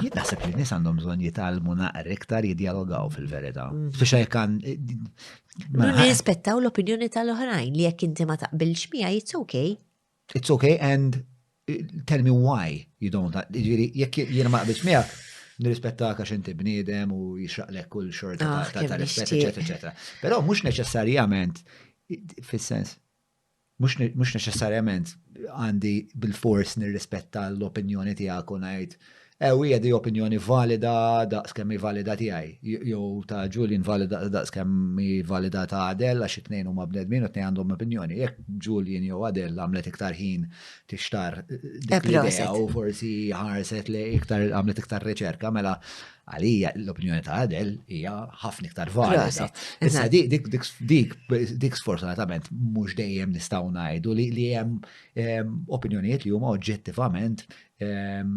Jien naħseb li n-nies għandhom bżonn jitgħallmu naqra iktar jidjalogaw fil-verità. Mm. Biex hekk għan. Mela, Nirrispettaw l-opinjoni tal-oħrajn li jekk inti ma taqbilx miegħi it's okay. It's okay and eh, tell me why you don't. Jiġifieri jekk jien ma qbilx miegħek, nirrispetta għax inti bniedem u jixraqlek kull xorta ah, ta' rispett, eċetera, eċetera. Però mhux neċessarjament fis-sens mhux neċessarjament għandi bil-fors nirrispetta l-opinjoni tiegħek u ngħid ew hija di opinjoni valida daqs kemm valida tiegħi jew ta' Julian valida daqs kemm valida ta' Adel għax it-tnejn huma bnedmin u t-tnejn għandhom opinjoni. Jekk Julian jew Adel għamlet iktar ħin tixtar dik l-idea u forsi ħarset li iktar għamlet iktar riċerka mela Għalija l-opinjoni ta' Adel hija ħafna iktar valida. Issa dik sfortunatament mhux dejjem nistgħu ngħidu li hemm ehm, opinjonijiet li huma oġġettivament ehm,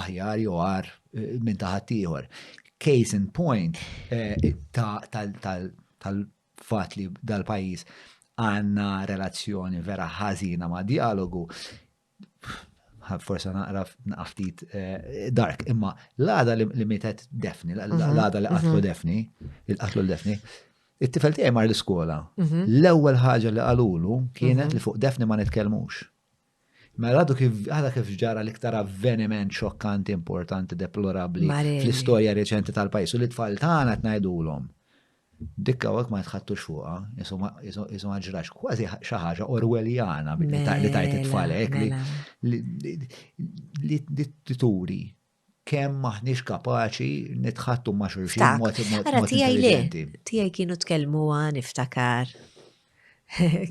aħjar jew għar eh, minn ta' ħaddieħor. Case in point eh, tal-fatt li dal-pajjiż għandna relazzjoni vera ħażina ma' dialogu forse naqra naqftit eh, dark, imma l-għada li mietet defni, mhm. l-għada li qatlu mhm. defni, il-qatlu l-defni, it-tifel tiegħi mar l-iskola. Mhm. L-ewwel ħaġa li qalulu kienet li fuq defni ma nitkellmux. Mela għadu kif għada kif ġara l-iktar avveniment xokkanti, importanti, deplorabli fl-istorja reċenti tal-pajis u li tfal tagħna tnajdulhom. Dikka hawnhekk ma jitħattux fuqha, isu ma ġrax kważi xi ħaġa Orwelljana li tajt it-tfalek mela, mela. li turi kemm maħniex kapaċi nitħattu ma' xulxin mod intelligenti. Tiegħi kienu tkellmu għan iftakar.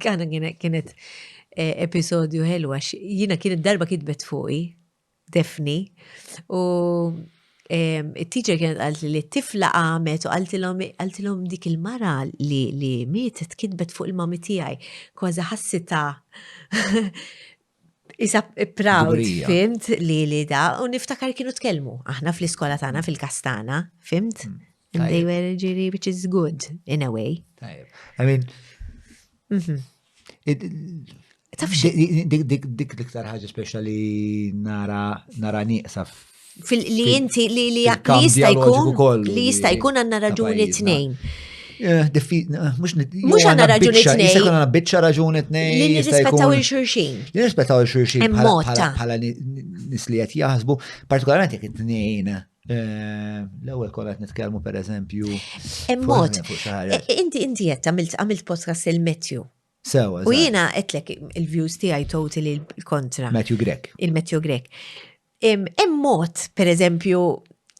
Kana kienet e, episodju ħelwa, jina kienet darba kitbet fuqi, Daphne, u it-teacher kienet għalt li t-tifla għamet u għaltilom dik il-mara li li mietet kitbet fuq il-mami tijaj, kważi ħassita Isa proud, fimt, li li da, u niftakar kienu tkellmu, aħna fl-iskola tagħna fil-kastana, fimt? Mm. And they were ġiri, which is good, in a way. Tajib. I mean, mhm. dik l-iktar ħagġa speċjali nara nara nieqsa li inti li li jista' jkun li jista' jkun għandna raġuni tnejn. Eh, eh, mux għanna raġuni t-nej. Jista' għanna bitċa raġuni t-nej. Li nirrispettaw il-xurxin. Li nirrispettaw il-xurxin. Bħala nis li jgħet jahzbu, partikolarment jek t-nejn Eh, l-ewwel kol qed nitkellmu pereżempju. Immod. Inti inti qed għamilt għamilt podcast il-Metju. Sewa. U jiena qedlek il-views tiegħi totally l-kontra. Metju Grek. Il-Metju Grek. Immod, pereżempju,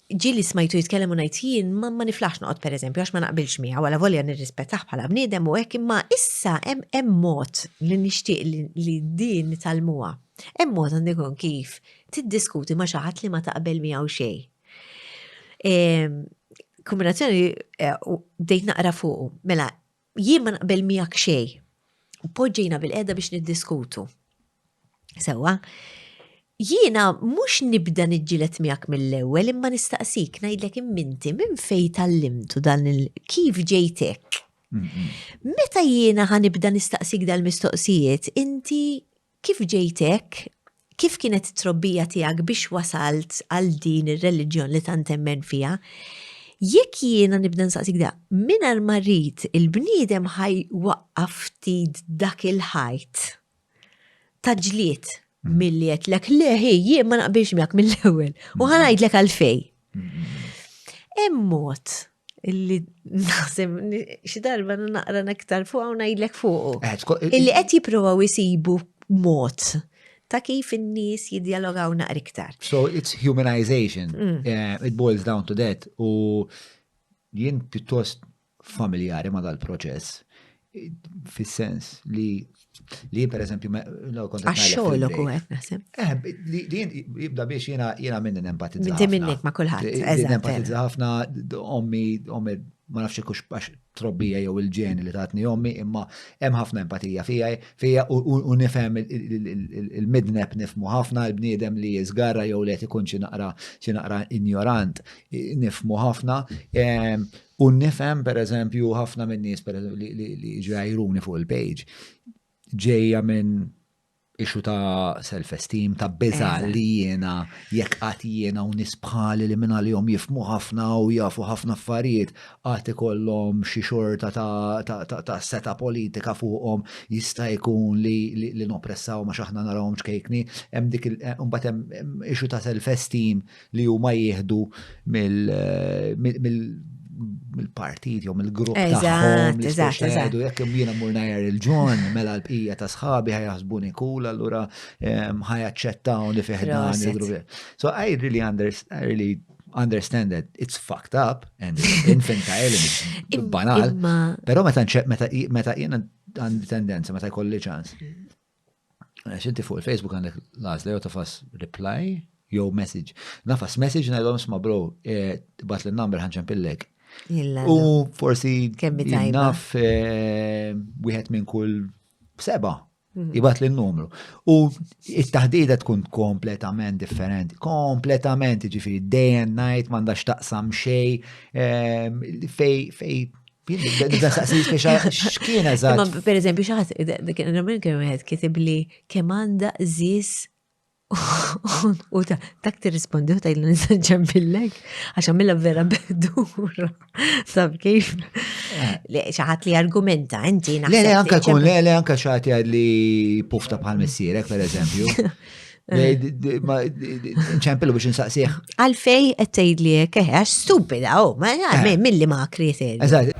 ġili smajtu jitkellem u ngħid jien ma niflax noqgħod pereżempju għax ma naqbilx miegħu wala volja nirrispettaħ bħala bniedem u hekk imma issa hemm mod li nixtieq li din nitalmuha Hemm mod għandu jkun kif tiddiskuti ma' xi ħadd li ma taqbel miegħu xejn. Ehm, kombinazzjoni eh, bdejt naqra fuq, mela jien ma naqbel miegħek xejn. U poġġejna bil-qeda biex niddiskutu. Sewa, jiena mhux nibda niġġilet miegħek mill-ewwel imma nistaqsik ngħidlek imminti minn fejn tallimtu dan il kif ġejtek. Meta jiena ħanibda nistaqsik dal-mistoqsijiet, inti Kif ġejt hekk? Kif kienet it-trobbija tiegħek biex wasalt għal din ir-reliġjon li tant temmen fiha? Jekk jiena nibda nsaqsik da, mingħajr ma rrid il-bniedem ħaj waqqaf ftit dak il-ħajt ta' ġlied mm. milli qedlek le ħi jien ma naqbilx miegħek mill-ewwel u mm. ħanajdlek għalfej. Mm. Hemm mod illi naħseb xi darba naqra nektar fuq u ngħidlek fuqu. Eh, illi qed jippruvaw isibu mod ta' kif in-nies jidjalogaw naqra iktar. So it's humanization. Mm. Eh, it boils down to that u jien pjuttost familjari ma dal-proċess. fis-sens li li per eżempju għax-xogħolok u qed naħseb. Eh, li jibda biex jiena jiena minn nempatizza. Inti minnek ma' kulħadd. Nempatizza ħafna ommi ommi ma nafx kux għax trobbija jew il-ġeni li tatni ommi imma hemm ħafna empatija fija fija u nifhem il-midneb nifmu ħafna l-bniedem li jiżgarra jew li qed ikun xi naqra xi naqra injorant nifmu ħafna ehm, U nifhem per eżempju ħafna minn nies per eżempju li jiġu jajruni fuq il-page ġejja minn ixu ta' self-esteem, ta' biza li jiena, jekk għat jiena u nisbħali li minna li jom jifmu ħafna u jafu ħafna affarijiet, għat ikollom xi xorta ta' seta politika fuqhom jista' jkun li nopressaw ma xaħna narawhom ċkejkni, hemm dik il-mbagħad eh, hemm ixu ta' self-esteem li huma jieħdu mill-partit jew mill-grupp tagħhom li jgħidu jekk jiena mur ngħajjar il-ġon mela l-bqija ta' sħabi ħajasbuni kul allura ehm, ħajaċċettaw li fih dan il-grupp. So I really understand, I really understand that it's fucked up and infantile and banal. Pero meta meta jiena għandi tendenza meta jkolli ċans. Għax inti fuq il-Facebook għandek l-għazla jew tafas reply jew message. Nafas message ngħidhom sma bro, eh, bat l number ħanċan pillek. U forsi naf eh, wieħed minn kull seba' mhm. jibat l numru U it-taħdida tkun kompletament differenti, kompletament ġifiri day and night mandax taqsam xej eh, fej fej Da saqsi x'kien eżatt. Per eżempju, xaħat, minn kien wieħed kitib li kemm għandha żis u ta' dak tirrispondi u tajlu nisaġġem billek, għax għamilla vera bedura. Sab kif? Eh. Xaħat li argumenta, inti naħseb. Le, le, anka kun, le, le, anka xaħat li pufta bħal missierek, per eżempju. ċempelu biex nsaqsieħ. Għalfej qed tgħidli hekk eħe għax stupida oh, ma eh. milli ma kriterju. Eżatt.